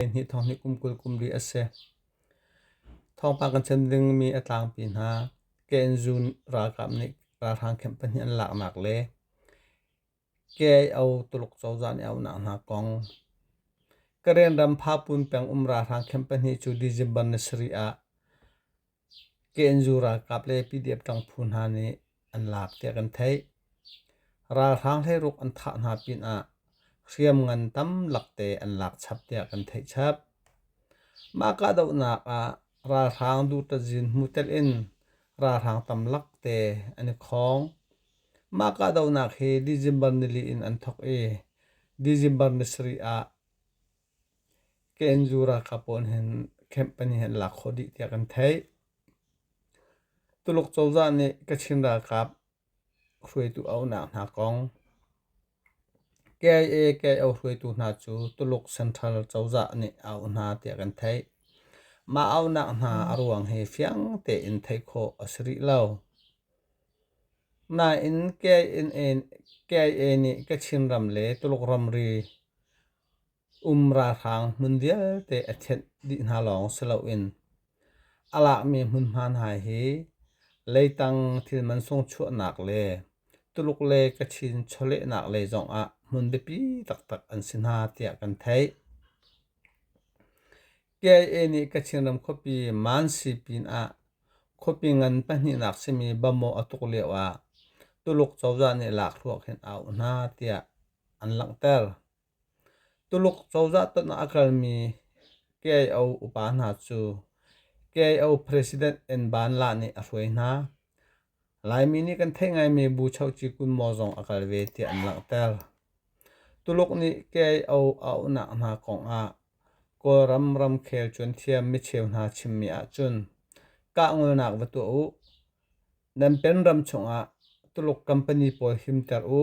Hnih thawng hi kum kul kum ri a si. Thawngpang kan chim dingmi a tlangpi hna. KNZU ralkap nih ralhrang camp pahnih an laknak le KIO Tuluk cozah nih a unak hna kong. Karen ram Phapun peng um ralhrang camp pahnih cu December ni sarih ah Kenzu ralkap le PDF ṭang phu hna nih an lak tiah kan theih. Ralhrang hleiruk an thah hna pinah hriamngan tam lakte an lak chap tiah kan theih chap. Mah kahdohnak ah ralhrang duṭazin hmu telin ralhrang tam lakte an i khawng. Mah kahdohnak hi December nili in an thawk i December ni sarih ah KNU ralkap pawl hin camp pahnih an lak khawh dih tiah kan theih. Tuluk cozah nih Kachin ralkap hruaitu a unak hna kong KIA KO hruaitu hna cu Tuluk Central cozah nih a auh hna tiah kan theih. Mah auhnak hna a ruang hi fiang tein theih khawh a si rih lo. Nain KIA nih Kachin ram le Tuluk ramri Um ralhrang hmun vialte a thenh dih hna lawng si loin a lakmi hmunhma hna hi leitang thil mansung chuahnak le Tuluk le Kachin chawlehnak lei zongah hmun biapi taktak an si hna tiah kan theih. KIA nih Kachin ram khuapi Mansi pinah khuapi ngan pahnihnak simi Bamo a tuk lioah Tuluk cozah nih lakhruak hin a auh hna tiah an langhter. Tuluk cozah tanh ah a kalmi KIO upa hna cu KIO President En Ban La nih a hruai hna. Laimi nih kan theih ngaimi Bu Choci Kunmaw zong a kal ve tiah an langhter. Tuluk nih KIO a uhnak hna kongah Kawlram ramkhel cuanthiam micheu hna chimmi ahcun kah ngolnak va tuah u. Nan pen ram chungah Tuluk company pawl himter u.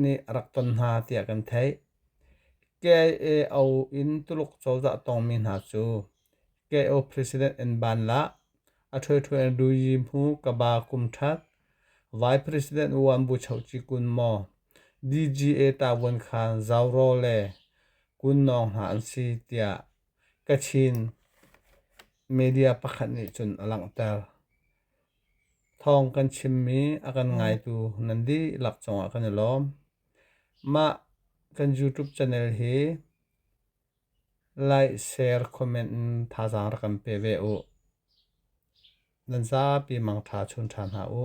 nih a rak ton hna tiah kan theih. KIAO in Tuluk cozah tawngmi hna cu KIAO President an ban lah, a ṭhuaṭhuan Luyi Hmu Kaba kum ṭhat, Vai President Wuan Bu Choci kun maw, DGA tavuan khan zau raw le kun nawng hna an si tiah Kachin media pakhat nih cun a langhter. Thawng kan chimmi a kan ngaitu nan dihlak cungah kan i lawm. Mah kan YouTube channel hi like, share, comment in thazaang rak kan pe ve u. Nan zapi mangtha chun ṭhan hna u.